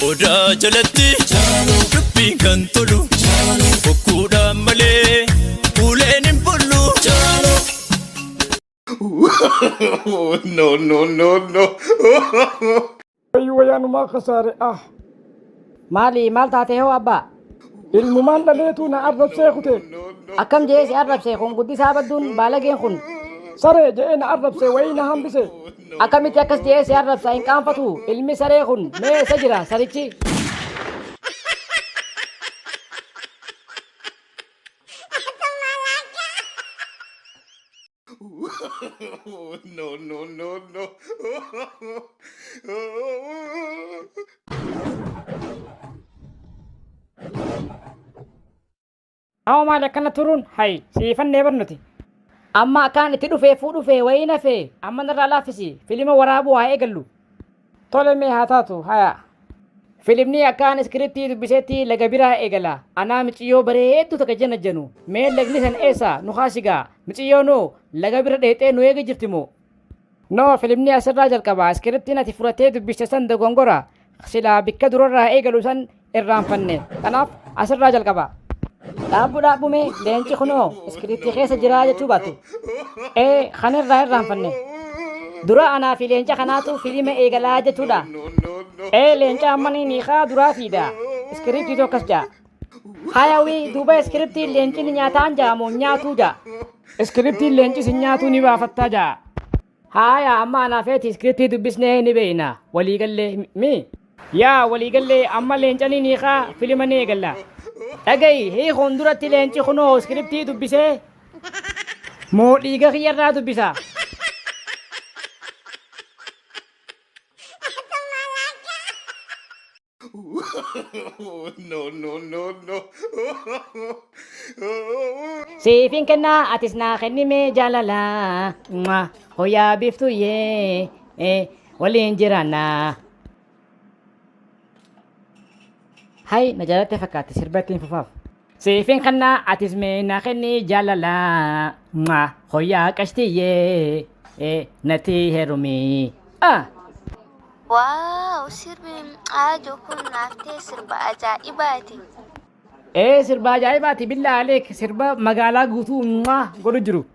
Odaa jalatti dubbiin kan tolu bokkuudhaan malee uleen hin bullu. no, no, no, no. Wayii wayaanumaa kasaare ah. Maali maal taatee hoo abbaa? Ilmumaan dhaleetuu na arrabsee kutee. Akkam je'ee si arrabse kun guddisaa badduun baalageen kun. Saree je'ee na arrabse wayii na hambise. Akkamitti akkas je'ee si arrabsa hin qaanfatu ilmi saree kun mee eessa jira sarichi. no, no, no, no. Hoo maal akkana turuun hayi siifannee barnuti. Amma akkaan itti dhufee fuudhufee wayii nafee amma narraa laaffisi filima waraabuu haa eegallu. Tole mee haa taatu hayaa. Filimnii akkaan iskiriptii dubbisetti laga biraa egala anaa miciyyoo bareedduu taka janajjanu mee lagni san eessa nu kaasigaa miciyyoo noo laga bira dheexee nu eega jirti moo. No filimni asirraa jalqaba iskiriptiin ati fudhattee dubbiste san dogongora silaa bikka durarraa eegalu san irraanfanne. Kanaaf asirraa jalqaba. Dhaabbu dhaabbu mee leenci kunoo iskiriiptii keessa jiraa jechuu baattu. Ee kan irraa irraanfanne. Dura anaa fi leenca kanaatu filiima eegalaa jechuudha. Ee leenca ammanii niikaa duraa fiida. Iskiriiptiitu akkas ja'a. Hayawii duuba iskiriiptiin leenci ni nyaataan ja'a moo nyaatuu ja'a. Iskiriiptiin leenci si nyaatuu ni baafattaa ja'a. Haaya amma anaa feeti iskiriptii dubbisnee ni beeyna. Walii gallee mi? Yaa walii gallee amma leencanii ni kaa filima ni eegalla. Dhagayi hiikuun duratti leenci kunoo iskiriptii dubbisee moo dhiiga kiyyarraa dubbisa? Oh, no, no, no, no. Siifin kennaa atis naa kennimee jaalala. Mwah. Hoyaa biftuu yee. Eh, Waliin jiraannaa. Hay na jaalatte fakkaatti sirba ittiin fufaaf. Siifin kanna atis mee na kenni jaalala mwa hoyaa qashtiyyee eh, natti herumi ah. Wow sirbi aajo kun naaf ta'e sirba ajaa'ibaati. Ee sirba ajaa'ibaati billaa aleek sirba magaalaa guutuu mwa godhu jiru.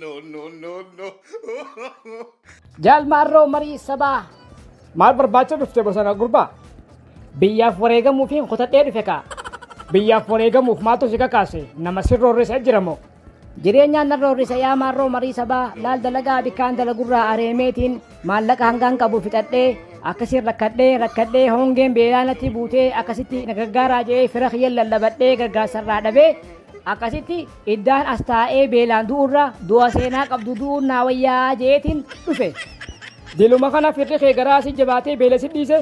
no, no, no, no. Jaal Maarroo marii sabaa. Maal barbaacha dhufte bosona gurbaa? Biyyaaf wareegamuufiin kutadhee dhufe kaa. Biyyaaf wareegamuuf maaltu si kakaase? Nama sirroorrisa jira moo? Jireenyaan narroorrisa yaa maarroo marii sabaa laal dalagaa bikkaan dalagurraa areemeetiin maallaqa hangaan qabu fixadhee akkasiin rakkadhee rakkadhee hongeen beelaa natti buutee akkasitti na gargaaraa jedhee fira kiyyan lallabadhee gargaarsarraa dhabee Akkasitti iddaan as taa'ee beelaan du'urra du'a seenaa qabdu du'uun naa wayyaa je'eetiin dhufe. Diluma kana firri kee garaa si jabaatee beela si dhiise.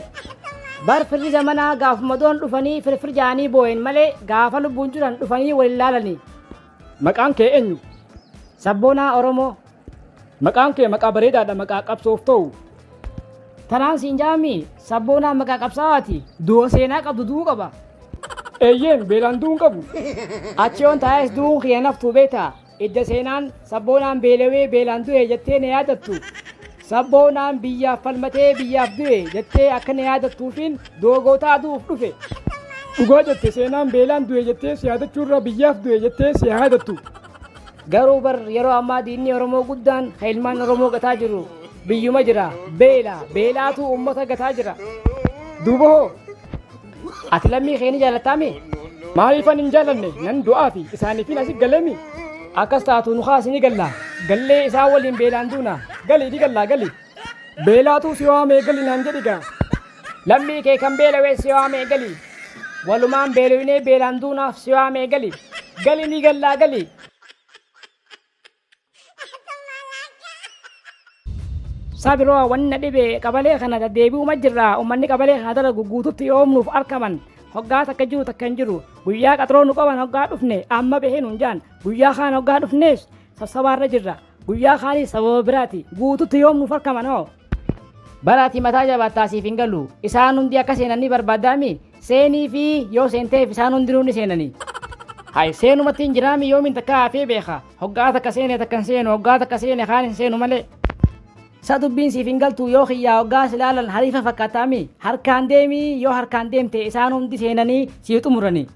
Bar firri zamanaa gaafuma du'an dhufanii firfir ja'anii booyan malee gaafa lubbuun jiran dhufanii wal hin laalanii. Maqaan kee eenyu? Sabboonaa Oromoo. Maqaan kee maqaa bareedaadha maqaa qabsoof ta'u. Tanaan siin jaami sabboonaa maqaa qabsaawaati du'a seenaa qabdu du'uu qaba. Eeyyeen beelaan du'uun qabu. Achi yoon taa'es du'uun kiyya naftuu beektaa idda seenaan sabboonaan beelawee beelaan du'e jettee na yaadattu. Sabboonaan biyyaaf falmatee biyyaaf du'e jettee akka na yaadattuufiin du'a gootaa du'uuf dhufe. Dhugaa jette seenaan beelaan du'e jettee si yaadachuurra biyyaaf du'e jettee si yaadattu. Garuu bar yeroo ammaa diinni Oromoo guddaan kan ilmaan Oromoo gataa jiru biyyuma jira. Beela. Beelaatu uummata gataa jira. Duuba hoo? Ati lammii kee ni jaalattaami? Maaliifan hin jaalanne? Nan du'aafi. Isaaniifin asi galemi. Akkas taatu nu kaasi ni galla. Gallee isaan waliin beelaan duuna. Gali ni galla gali. Beelaatuu si waamee gali naan jedhi gaa. Lammii kee kan beelawee si waamee gali. Walumaan beelawinee beelaan duunaaf si waamee gali. Gali ni gallaa gali. Sabiroo wanna dhibe qabalee kana deebi'uma jirra ummanni qabalee kana dalagu guututti yoomnuuf arkaman hoggaa takka jiru takka hin jiru guyyaa qaxroo nu qaban hoggaa dhufne amma bahee nuun jaan guyyaa kaan hoggaa dhufnees sassabaarra jirra Guyyaa kaanii sababa biraati. Guututti yoom nuuf arkaman hoo? Bara ati mataa jabaattaa siif hin galu. Isaan hundi akka seenan ni barbaaddaami? Seenii fi yoo seenteef isaan hundinuu ni seenani. Hay seenumatti hin jiraami yoomiin takka hafee beeka. Hoggaa takka seene takka hin seenu hoggaa takka seene kaan hin seenu malee. Sa dubbiin siif hin galtu yoo kiyyaa hoggaa si laalan hariifa fakkaataami? Harkaan deemi yoo harkaan deemte isaan hundi seenanii sii xumurani.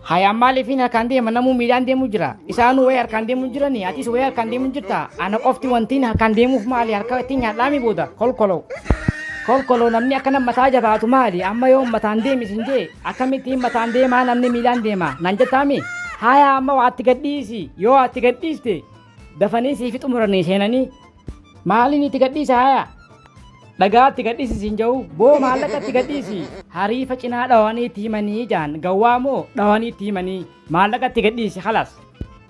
Hayaan maaliif hin harkaan deema namuu miidhaan deemu jira. Isaanuu wayii harkaan deemu jirani atis wayii harkaan deemu jirta. Ana qofti wantiin harkaan deemuuf maali harka ittiin nyaadhaami booda kolkoloo. Kolkoloo namni akkana mataa jabaatu maali amma yoo mataan deemi sin jee akkamittiin mataan deemaa namni miilaan deema nan jettaami. Hayaa amma waatti gadhiisi yoo waatti gadhiiste dafanii siifi xumuranii seenanii Maaliin itti gadhiisa haya? Dhagaa itti gadhiisi siin ja'u boo maallaqa itti gadhiisi. Hariifa cinaa dhawanii itti himanii jaan gawwaa moo dhawanii itti himanii maallaqa itti gadhiisi halas.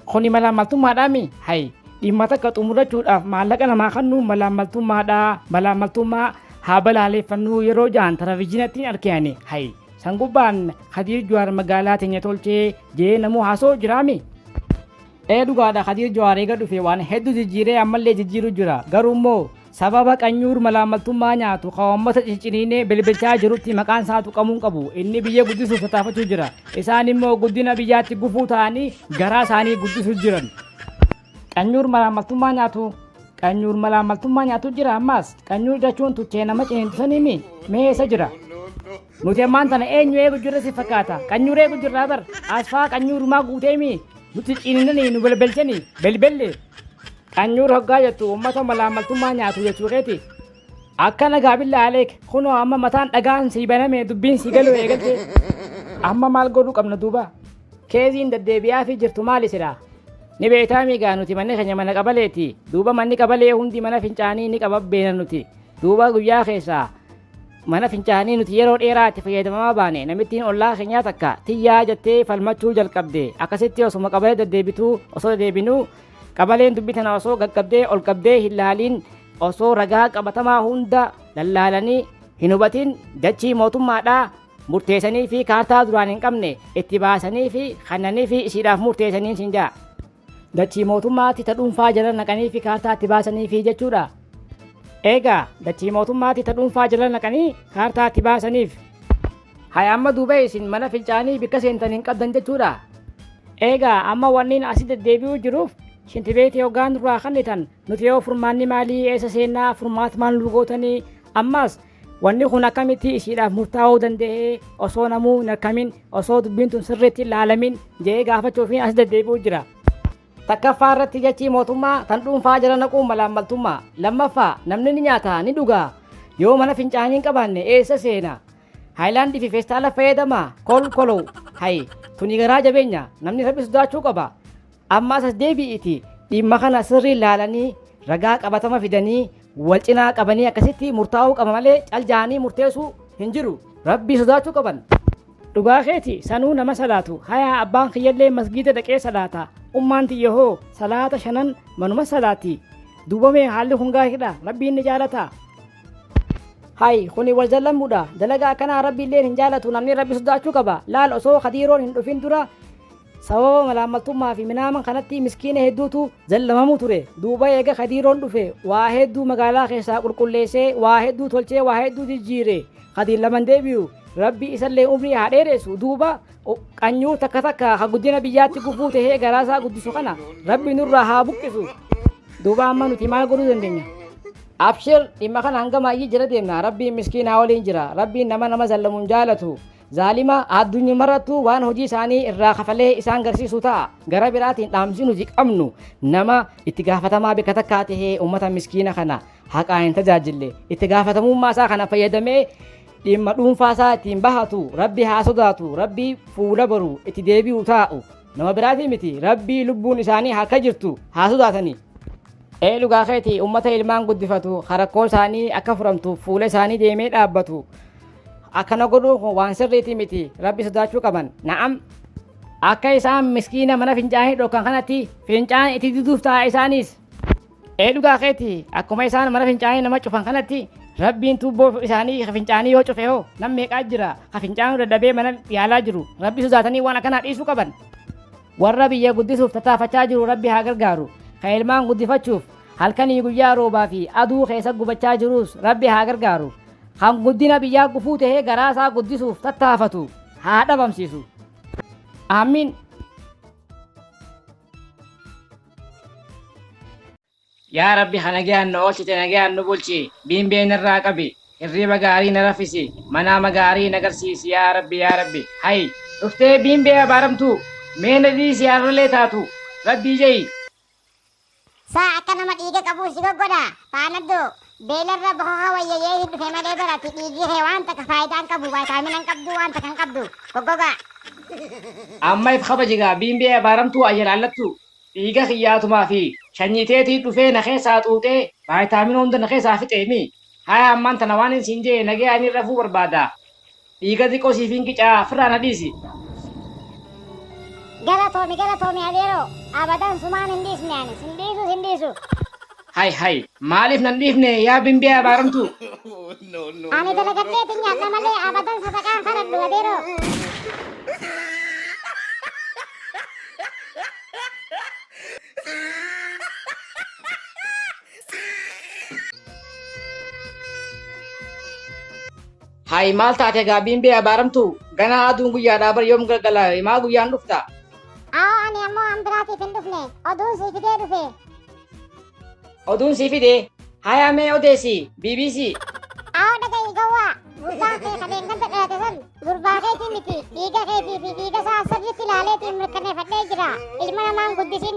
Kuni malaammaltummaadhaami? Hay dhimma takka xumurachuudhaaf maallaqa namaa kannuun malaammaltummaadha malaammaltummaa haa balaaleeffannuu yeroo jaan taravijiinattiin arkeani hay san gubbaan Kadiir Juwaar magaalaa teenya tolchee jee namuu haasoo jiraami? Ee dhugaadha kadiir jowaar eega dhufe waan heddu jijjiiree ammallee jijjiiru jira garuu immoo sababa qanyuur malaammaltummaa nyaatu ka uummata cicciniinee bilbilchaa jirutti maqaan isaa tuqamuun qabu inni biyya guddisuuf tattaafachuu jira isaan immoo guddina biyyaatti gufuu ta'anii garaa isaanii guddisuu jiran qanyuur malaammaltummaa nyaatu qanyuur malaammaltummaa nyaatu jira ammaas qanyuur jechuun tuchee nama ciniintu saniimi mee eessa jira Nuti ammaan tana eenyu eegu jirra si fakkaata? Qanyuura eegu jirraa bar. Asfaa qanyuurumaa guuteemi nutti ciininnanii nu belbelchanii belbelle. Qanyuur hoggaa jettu ummata malaammaltummaa nyaatu jechuu keeti? Akkana gaabillaa Aleek kunoo amma mataan dhagaan sii baname dubbiin sii galuu eegalte. Amma maal godhuu qabna duuba? Keeziin daddeebi'aafii jirtu maali silaa? Ni beektaa miigaa nuti manni keenya mana qabaleeti. Duuba manni qabalee hundi mana fincaanii ni qaba beena nuti. Duuba guyyaa keessaa Mana fincaanii nuti yeroo dheeraa itti fayyadamamaa baane namittiin ollaa keenyaa takka tiyyaa jettee falmachuu jalqabde akkasitti osuma qabalee deddeebituu osoo deddeebinuu qabaleen dubbii tana osoo gaggabdee ol qabdee hin laaliin osoo ragaa qabatamaa hunda lallaalanii hin hubatiin dachii mootummaadhaa murteessanii fi kaartaa duraan hin qabne itti baasanii fi kannanii fi ishiidhaaf murteessaniin siin ja'a. Dachii mootummaatti ta dhuunfaa jala naqanii fi kaartaa itti baasanii fi jechuudha. Eegaa dachii mootummaatti ta dhuunfaa jala naqanii kaartaa itti baasaniif. Haya amma duuba isin mana fincaanii bikka seentan hin qabdan jechuudha. Eegaa amma wanniin asi deddeebi'uu jiruuf shintibeetii hoggaan nurraa kannitan nuti yoo furmaanni maalii eessa seennaa furmaat maal nu gootanii ammaas Wanni kun akkamitti ishiidhaaf murtaa'uu danda'e osoo namuu hin arkamin osoo dubbiin tun sirriitti ilaalamin je'ee gaafachuufiin as deddeebi'u jira. Takkaffaa irratti jechii mootummaa tan dhuunfaa jala naquun malaammaltummaa. Lammaffaa namni ni nyaata ni dhuga. Yoo mana fincaanii hin qabaanne eessa seena? Haayilaandii fi feestaala fayyadama kol kolow. Hayi tuni garaa jabeenya namni rabbi sodaachuu qaba. Ammaas as deebi'iitii dhimma kana sirriin laalanii ragaa qabatama fidanii wal cinaa qabanii akkasitti murtaa'uu qaba malee cal ja'anii murteessuu hin jiru. Rabbii sodaachuu qaban. Dhugaa keeti sanuu nama salaatu hayaa abbaan kiyyallee masgiida dhaqee salaata ummaan tiyya hoo salaata shanan manuma salaati duuba mee haalli kun gaariidha rabbiin ni jaalata hay kuni wal jallamudha dalaga akkanaa rabbiilleen hin jaalatu namni rabbi sodaachuu qaba laal osoo kadiiroon hin dhufin dura Sababa malaammaltummaa fi minaaman kanatti miskiina hedduutu zallamamu ture. Duuba eega Kadiiroon dhufe waa hedduu magaalaa keessaa qulqulleessee, waa hedduu tolchee, waa hedduu jijjiire. Kadiir laman deebi'u. Rabbi isallee umrii haa dheeressu. Duuba qanyuu takka takka ka guddina biyyaatti gufuu tahee garaasaa guddisu kana Rabbi nurraa haa buqqisu. Duuba amma nuti maal godhuu dandeenya? Abshir dhimma kana hanga maayyii jala deemna. Rabbiin miskiinaa waliin jira. Rabbiin nama nama zallamu hin jaalatu. zaalima, aaddunyumarrattuu waan hojii isaanii irraa kafalee isaan garsiisu ta'a. Gara biraatiin dhaamsi nuti qabnu nama itti gaafatamaa bikka takkaa ta'ee uummata miskiina kana haqaa hin tajaajille itti gaafatamummaa isaa kana fayyadamee dhimma dhuunfaa isaa ittiin bahatu rabbi haa sodaatu rabbi fuula baru itti deebi'u taa'u nama biraatii miti rabbii lubbuun isaanii harka jirtu haa sodaatanii. Ee dhugaa keeti uummata ilmaan guddifatu harakkoo isaanii akka furamtuuf fuula isaanii deemee dhaabbatu Akkana godhuun kun waan sirriitii miti. Rabbi sodaachuu qaban. Na'am. Akka isaan miskiina mana fincaanii dhokkan kanatti fincaan itti diduuf ta'a isaanis. Ee dhugaa keeti akkuma isaan mana fincaanii nama cufan kanatti rabbiin tuubboo isaanii ka fincaanii yoo cufe hoo nam meeqaa jira ka fincaanuu dadhabee mana yaalaa jiru rabbi sodaatanii waan akkanaa dhiisuu qaban. Warra biyya guddisuuf tattaafachaa jiru rabbi haa gargaaru ka ilmaan guddifachuuf halkanii guyyaa roobaa fi aduu keessa gubachaa jirus rabbi haa gargaaru. kan guddina biyyaa gufuu tahee garaa isaa guddisuuf tattaafatu haa dhabamsiisu. Aamiin. Yaa Rabbi ka nagayaan nu oolchite nagayaan nu bulchi, biimbee narraa qabi, hirriiba gaarii na raffisi, manaama gaarii na garsiisi yaa Rabbi yaa Rabbi. Hay! Dhuftee biimbee abaaramtuu, mee na dhiisi arralee taatu, Rabbii je'i. Sa akka nama dhiiga qabuu si goggodha paanaddo beelarra bokoka wayya yee hin dhufe malee bar ati dhiigii kee waan takka faayidaa hin qabu vaayitaamina hin qabduu waan takka hin qabdu goggogaa. Amma if kabaji gaa biinbee abaaramtuu ayyana allattuu dhiiga kiyyaatumaa fi shanyii teetii dhufee na keessaa xuuxee vaayitaamina hunda na keessaa fixee mii haya ammaan tana waanin siin je'e nagayaanii rafuu barbaadaa Dhiiga xiqqoo siifin qicaa firraa na dhiisi. Galatoomi galatoomi adeeroo abadan sumaan hin dhiisne ani sin dhiisu sin dhiisu. Hay hay maaliif nan dhiifne yaa bimbee abaaramtuu. Ani dalagadheeti nyaadha malee abadan sadaqaan kadhadhu adeeroo. Hayi maal taate egaa biimbee abaaramtu ganaa aduun guyyaadhaa bar yoom galgala himaa guyyaan dhufta. Aawoo ani ammoo an biraatiif hin dhufne oduun sii fidee dhufe. Oduun sii fidee hayaa mee odeessi BBC. Aawoo dhaga'i gowwaa gurbaan kee ka deenganta dhalate san gurbaa keetii miti dhiiga keetii fi dhiiga isaa sirriitti ilaaleetiin mirkaneeffadhee jira ilma namaan guddisin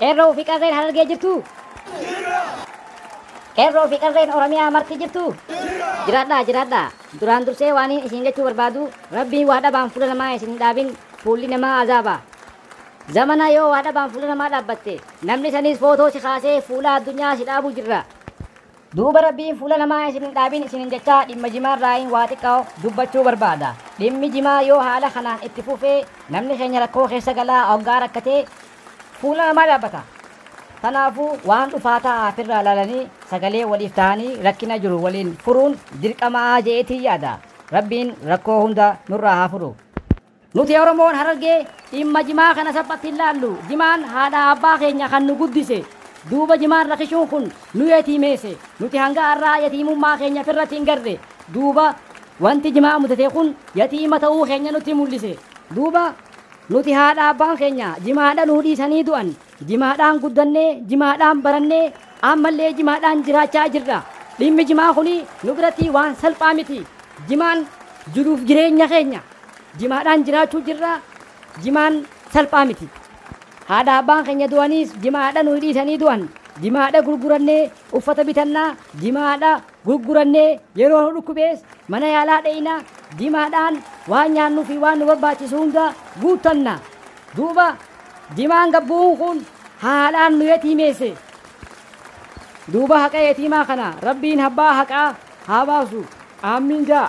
Qeerroo fi qarreen harargee jirtu. Qeerroo fi qarreen Oromiyaa marti jirtu. Jiraadhaa jiraadhaa. Duraan dursee waaniin isin jechuu barbaadu rabbiin waa dhabaan fuula namaa isin hin dhaabin fuulli namaa azaaba. Zamana yoo waa dhabaan fuula namaa dhaabbatte namni saniis footoo si kaasee fuula addunyaa si dhaabuu jirra. Duuba Rabbiin fuula namaa isin hin dhaabin isiniin jechaa dhimma jimaarraayin waa xiqqao dubbachuu barbaada. Dhimmi jimaa yoo haala kanaan itti fufe namni keenya rakkoo keessa gala oggaa rakkate fuula namaa dhaabbata. Tanaafuu waan dhufaa ta'aa firraa laalanii sagalee waliif ta'anii rakkina jiru waliin furuun dirqama'aa je'eetiin yaada. Rabbiin rakkoo hunda nurraa haa furu. Nuti Oromoon Harargee dhimma Jimaa kana salphatti hin laallu. Jimaan haadha abbaa keenya kan nu guddise. Duuba Jimaan rakishuun kun nu yatiimeese. Nuti hanga arraa yatiimummaa keenya firratti hin garre. Duuba wanti Jimaa mudate kun yatiima ta'uu keenya nutti mullise. Duuba nuti haadha abbaan keenya Jimaadha nuu dhiisanii du'an. Jimaadhaan guddanne, Jimaadhaan baranne, ammallee Jimaadhaan jiraachaa jirra. Dhimmi Jimaa kun nu biratti waan salphaa miti. Jimaan jiruuf jireenya keenya. Jimaadhaan jiraachuu jirra. Jimaan salphaa miti. Haadha abbaan keenya du'aniis Jimaadha nuyi dhiisanii du'an. Jimaadha gurgurannee uffata bitanna, Jimaadha gurgurannee yeroo nu dhukkubees mana yaalaa dheyna, dimaadhaan waan nyaannuu fi waan nu barbaachisu hunda guuttanna. Duuba dimaan gad bu'uun kun haadhaan nu yatiimeesse. Duuba haqa yatiimaa kana Rabbiin habbaa haqaa haa baasu. Aammiin jaa.